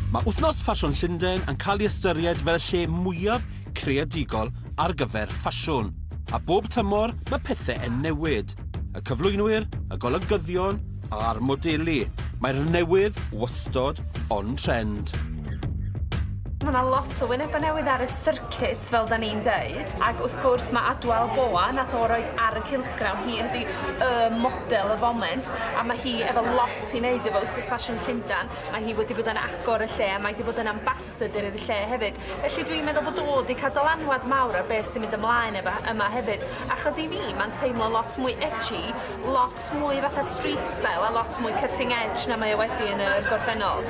Mae Wythnos Ffasiwn Llundain yn cael ei ystyried fel y lle mwyaf creadigol ar gyfer ffasiwn, a bob tymor mae pethe yn newid. Y cyflwynwyr, y golygyddion a'r modelu, mae'r newydd wastod on trend. Mae 'na lot o wynebau newydd ar y circuit fel 'dan ni'n deud ac wrth gwrs mae Adwel Boa nath o roid ar y cylchgrawn hi ydi y model y foment a mae hi efo lot Ti'n neud efo wsos ffasiwn Llundan, mae hi wedi bod yn agor y lle a mae 'di bod yn ambassador i'r lle hefyd, felly dwi'n meddwl bod o 'di cael dylanwad mawr ar beth sy'n mynd ymlaen efo yma hefyd, achos i fi mae'n teimlo lot mwy edgy, lot mwy fatha street style a lot mwy cutting edge na mae o wedi yn y gorffennol.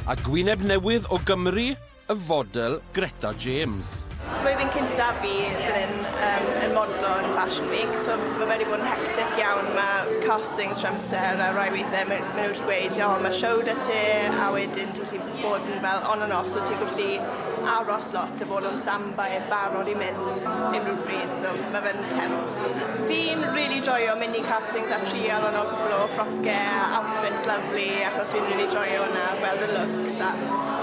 A gwyneb newydd o Gymru? Y fodel Greta James. Blwyddyn cynta fi fan hyn yym yn modlo yn Fashion Week so ma' fe 'di bod yn hectic iawn ma' castings trwy amser a rai weithie ma' ma' nw jys gweud o ma' show 'da ti a wedyn ti'n gallu bod yn fel on and off so ti'n gallu aros lot a bod on standby yn barod i mynd unrhyw bryd so ma' fe'n tense. Fi'n rili joio mynd i castings a trial a nocio ffrocke a outfits lyfli achos fi'n rili joio wnna gweld y looks a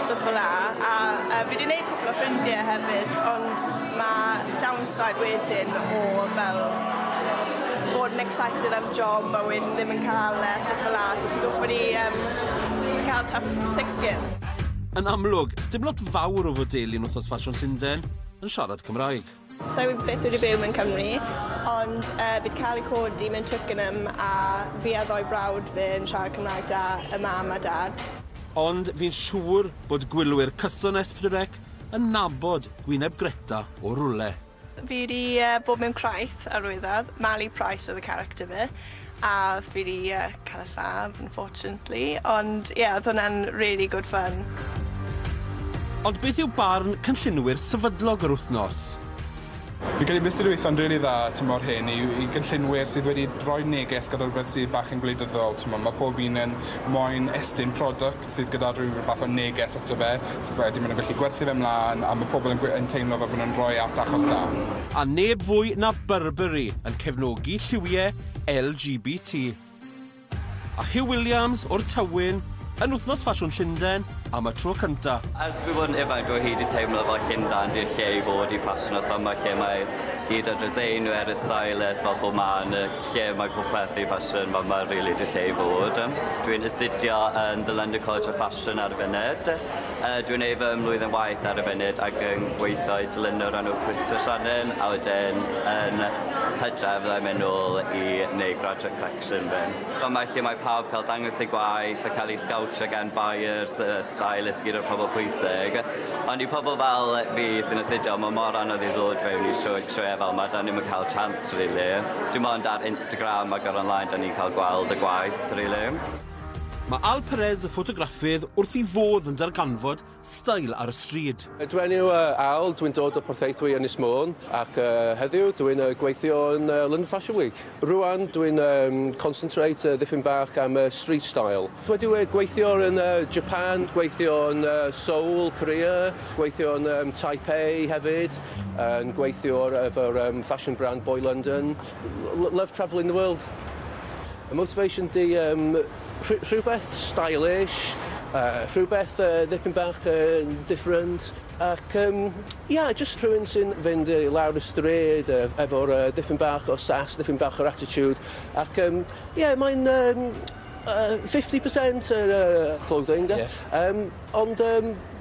stwff fel 'a a yy fi 'di neud cwpwl o ffrindie hefyd ond ma' downside wedyn o fel bod yn excited am job a wedyn ddim yn ca'l e a stwff fel 'a so ti'n gorffod i yym ti'n gorffo ca'l tough thick skin. Yn amlwg, sdim lot fawr o fwdeilu yn Wythnos Ffasiwn Llunden yn siarad Cymraeg. Sa i byth wedi byw mewn Cymru, ond yy fi'd cael ei codi mewn Twickenham a fi a ddou brawd fi yn siarad Cymraeg da, y mam a dad. Ond fi'n siŵr bod gwylwyr cyson Espritrec yn nabod gwyneb Greta o rwle. Fi wedi bod mewn Craith, Arwyddodd, Mali Price oedd y character fi. A fi 'di yy ca'l y lladd unfortunately ond ie odd hwnna'n rili good fun. Ond beth yw barn cynllunwyr sefydlog yr wythnos? Fi'n credu byse gweitho'n rili dda tymor hyn i i gynllunwyr sydd wedi roi neges gyda rwbeth sy bach yn gwleidyddol t'mo' ma' pob un yn moyn estyn product sydd gyda rhyw fath o neges ato fe, so wedyn maen nhw'n gallu gwerthu fe 'mlaen a mae pobl yn gwe- yn teimlo fel bod nhw'n rhoi at achos da. A neb fwy na Burberry yn cefnogi lliwiau LGBT. A Huw Williams o'r Tywyn yn Wythnos Ffasiwn Llundain am y tro cyntaf. Ers i fi fod yn ifanc o hyd i teimlo fel Llundain di'r lle i fod i ffasiwn a symud lle mae hyd at y designwyr, y stylists fel bod 'ma yn y lle mae popeth i ffasiwn fel mae rili dy lle i fod. Yym dwi'n astudio yn The London College of Fashion ar y funud yy dwi'n neud fy mlwyddyn waith ar y funud ac yn gweitho i dylunio o'r enw Christopher Shannon a wedyn yn Hydref fyddai'n mynd nôl i neud graduate collection fi. Fel mae lle mae pawb ca'l dangos eu gwaith a ca'l eu sgowtsio gan buyers yy stylist gyd o'r pobol pwysig ond i pobol fel fi sy'n astudio ma' mor anodd i ddod fewn i siw- sioeau fel 'ma 'dan ni'm yn ca'l chance rili. Dim ond ar Instagram ac ar online 'da ni'n cael gweld y gwaith rili. Mae Al Perez, y ffotograffydd, wrth ei fodd yn darganfod stael ar y stryd. Dwi enw Al, dwi'n dod o Porthaethwy, Ynys Môn, ac heddiw dwi'n gweithio yn London Fashion Week. Rŵan dwi'n concentrate dipyn bach am street style. Dwi wedi gweithio yn Japan, gweithio yn Seoul, Korea, gweithio yn Taipei hefyd. yn gweithio ar efo'r um, fashion brand Boy London. L love travelling the world. Y motivation di um, rh rhywbeth stylish, uh, rhywbeth uh, ddipyn bach uh, different, ac um, yeah, just rhywun sy'n fynd i lawr y stryd uh, efo'r uh, ddipyn bach o sas, ddipyn bach o'r attitude, ac um, yeah, mae'n um, uh, 50% yr uh, clothing, yeah. um, ond um,